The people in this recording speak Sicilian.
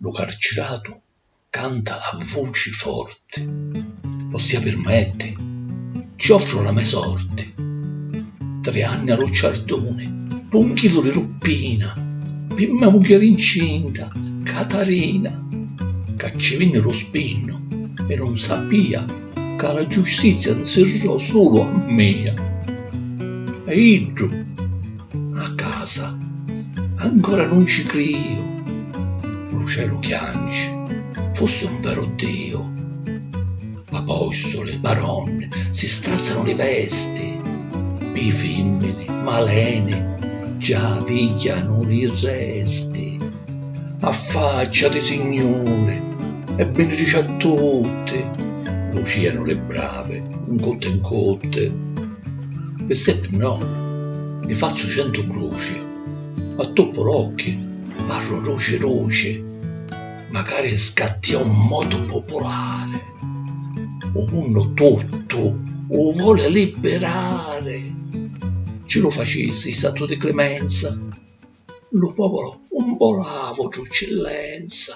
Lu carciratu canta a vuci forti, Vossia pirmetti, ci offru la me sorti. Tri anni a lu ciarduni, p'u 'nchilu di lu Pina, Pi me mugghieri 'ncinta, Catarina, Ca ci vinni lu spinnu e nun sapìa Ca la giustizia 'nsirrò sulu a mia. E iddu. A casa. Ancora nun ci criju. Lu celu chianci, fussi un veru Diu. Apostuli, baronni, si strazzanu li vesti, pi fimmini, maleni, già vigghianu li resti. A faccia di signuri, e binirici a tutti, vucìanu li bravi, 'n cutti 'n cutti. Pi sippi no, nni fazzu centu cruci, m'attuppu l'occhi, parru duci duci, macari scatti a un motu pupulari, u munnu tuttu u voli libbirari. Ci lu facisi santu di climenza, lu povuru 'un volava u trucci lenza.